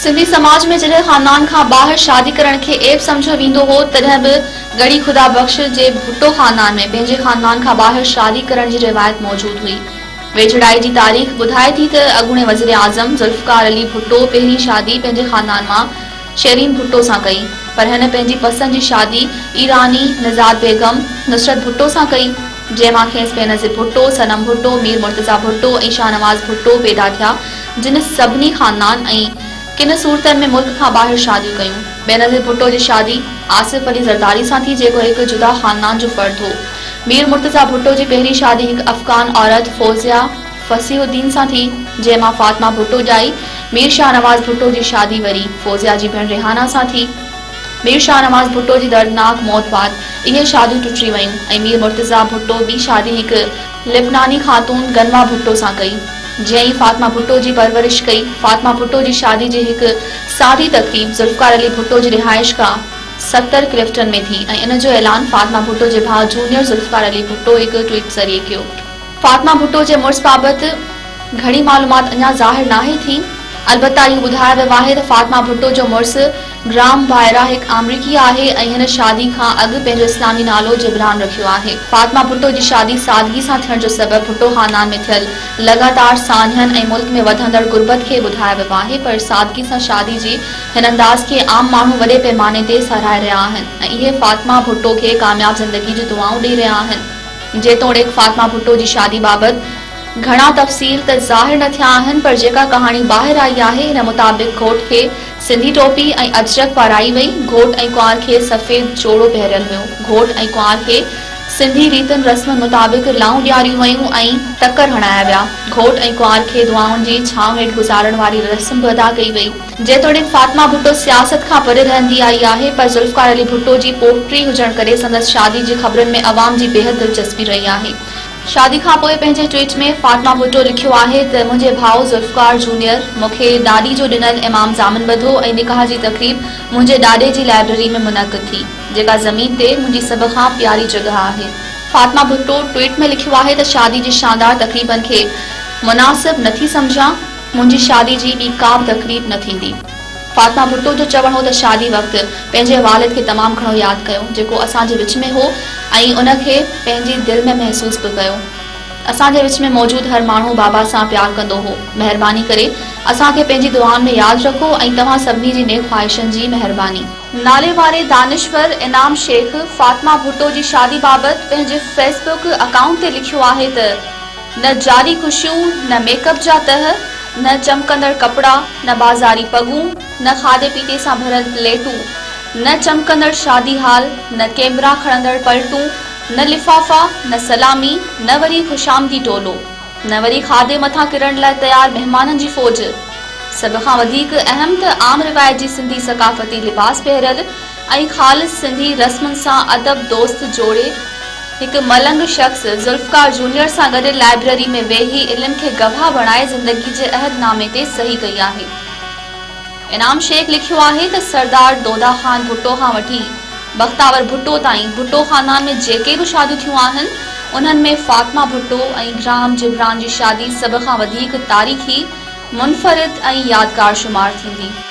سنڌي سماج ۾ جڏهن خاندان کان ٻاهر شادي ڪرڻ کي عيب سمجهيو ويندو هو تڏهن به ڳڙهي خدا بخش جي ڀٽو خاندان ۾ پنهنجي خاندان کان ٻاهر شادي ڪرڻ جي روايت موجود هئي. ويجهڙائي جي تاريخ ٻڌائي ٿي ته اڳوڻي وزيراعظم ذوالفقار علي ڀٽو پهرين شادي پنهنجي خاندان مان شيرين ڀٽو سان ڪئي پر هن پنهنجي پسند جي شادي ايراني نزاد بيگم نصرت ڀٽو سان ڪئي جنهن مان کيس بينظير ڀٽو، صنم ڀٽو، مير مرتضيٰ ڀٽو ۽ شاهنواز ڀٽو پيدا ٿيا جن سڀني خاندان ۽ ڪن صورتن ۾ ملڪ کان ٻاهر شاديون ڪيون. بينظير ڀٽو جي شادي آصف علي زرداري سان ٿي جيڪو هڪ جدا خاندان جو فرد هو. مير مرتضيٰ ڀٽو جي پهرين شادي هڪ افغان عورت فوزيه فصيح الدين سان ٿي جنهن مان فاطمه ڀٽو ڄائي. مير شاهنواز ڀٽو جي شادي وري فوزيه جي ڀيڻ ريحانه سان ٿي. مير شاهنواز ڀٽو جي دردناڪ موت بعد اهي شاديون ٽٽي ويون ۽ مير مرتضيٰ ڀٽو ٻي شادي هڪ. لبناني خاتون غنوه ڀٽو سان ڪئي، جنهن فاطمه ڀٽو جي پرورش ڪئي. فاطمه ڀٽو جي شادي جي هڪ سادي تقريب ذوالفقار علي ڀٽو جي رهائشگاهه ستر ڪلفٽن ۾ ٿي ۽ ان جو اعلان فاطمه ڀٽو جي ڀاء جونيئر ذوالفقار علي ڀٽو هڪ ٽوئيٽ ذريعي ڪيو. فاطمه ڀٽو جي مڙس بابت گهڻي معلومات اڃا ظاهر ناهي ٿي، البته اهو ٻڌايو ويو آهي ته فاطمه ڀٽو جو مڙس، گرام ڀائرا هڪ آمريڪي آهي ۽ هن شادي کان اڳ پنهنجو اسلامي نالو جبران رکيو آهي. فاطمه ڀٽو جي شادي سادگي سان ٿيڻ جو سبب ڀٽو خاندان ۾ ٿيل لڳاتار سانحن ۽ ملڪ ۾ وڌندڙ غربت کي ٻڌايو ويو آهي پر سادگي سان شادي جي هن انداز کي عام ماڻهو وڏي پئماني تي ساراهي رهيا آهن ۽ اهي فاطمه ڀٽو کي ڪامياب زندگي جون دعائون ڏئي رهيا آهن. جيتوڻيڪ فاطمه ڀٽو جي شادي بابت گهڻا تفصيل ته ظاهر نه ٿيا آهن پر جيڪا ڪهاڻي ٻاهر آئي آهي ان مطابق گهوٽ کي سنڌي ٽوپي ۽ اجرڪ پارايئي وئي. گهوٽ ۽ ڪنوار کي سفيد جوڙو پهريل هيو. گهوٽ ۽ ڪنوار کي سنڌي ريتن رسمن مطابق لائون ڏياريون ويون ۽ ٽڪر هڻايا ويا. گهوٽ ۽ ڪنوار کي دعائن جي ڇانو هيٺ گذارڻ واري رسم به ادا ڪئي وئي. جيتوڻيڪ فاطمه ڀٽو سياست کان پري رهندي آئي آهي پر ذوالفقار علي ڀٽو جي پوٽ ٽي هجڻ ڪري سندس شادي جي خبرن ۾ عوام جي بيحد دلچسپي رهي آهي. شادي کان پوء پنهنجي ٽوئيٽ ۾ فاطمه ڀٽو لکيو آهي ته منهنجي ڀاء ذوالفقار جونيئر مون کي ڏاڏي جو ڏنل امام ضامن ٻڌو ۽ نڪاح جي تقريب منهنجي ڏاڏي جي لائبريري ۾ منعقد ٿي جيڪا زمين تي منهنجي سڀ کان پياري جڳهه آهي. فاطمه ڀٽو ٽوئيٽ ۾ لکيو آهي ته شادي جي شاندار تقريبن کي مناسب نٿي سمجهان، منهنجي شادي جي ٻي ڪا به تقريب نه ٿيندي. فاطمه ڀٽو جو چوڻ هو ته شادي وقت پنهنجي والد کي تمام گهڻو ياد ڪيو جيڪو اسان جي وچ ۾ هو ۽ ان کي پنهنجي دل ۾ محسوس به ڪيو. اسان جي وچ ۾ موجود هر ماڻهو بابا سان پيار ڪندو هو. مهرباني ڪري اسان کي پنهنجي دعائن ۾ ياد رکو ۽ توهان سڀني جي نيڪ خواهشن جي مهرباني. ناليواري دانشور انعام شيخ فاطمه ڀٽو جي شادي بابت پنهنجي فيس بڪ اڪائونٽ تي لکيو آهي ته. نه جعلي خوشيون، نه ميڪ اپ جا تهه، نه چمڪندڙ ڪپڙا، نه بازاري پڳون، نه کاڌي پيتي سان ڀريل پليٽون، نه چمڪندڙ شادي هال، نه ڪيمرا کڻندڙ پلٽون، نه لفافا، نه سلامي، نه وري خوشامدي ٽولو، نه وري کاڌي مٿان ڪرڻ لاء تيار مهمانن جي فوج. سڀ کان وڌيڪ اهم ته عام روايت جي سنڌي ثقافتي لباس پهريل، ۽ خالص سنڌي رسمن سان ادب دوست جوڙي هڪ ملنگ شخص ذوالفقار جونيئر سان گڏ لائبرري ۾ ويهي علم کي گواهه بڻائي زندگي جي عهد نامي تي صحي ڪئي آهي. انعام شيخ لکيو آهي ته سردار دودا خان ڀٽو کان وٺي بختاور ڀٽو تائين ڀٽو خاندان ۾ جيڪي به شاديون ٿيون آهن انهن ۾ فاطمه ڀٽو ۽ گراهم جبران جي شادي سڀ کان وڌيڪ تاريخي، منفرد ۽ يادگار شمار ٿيندي.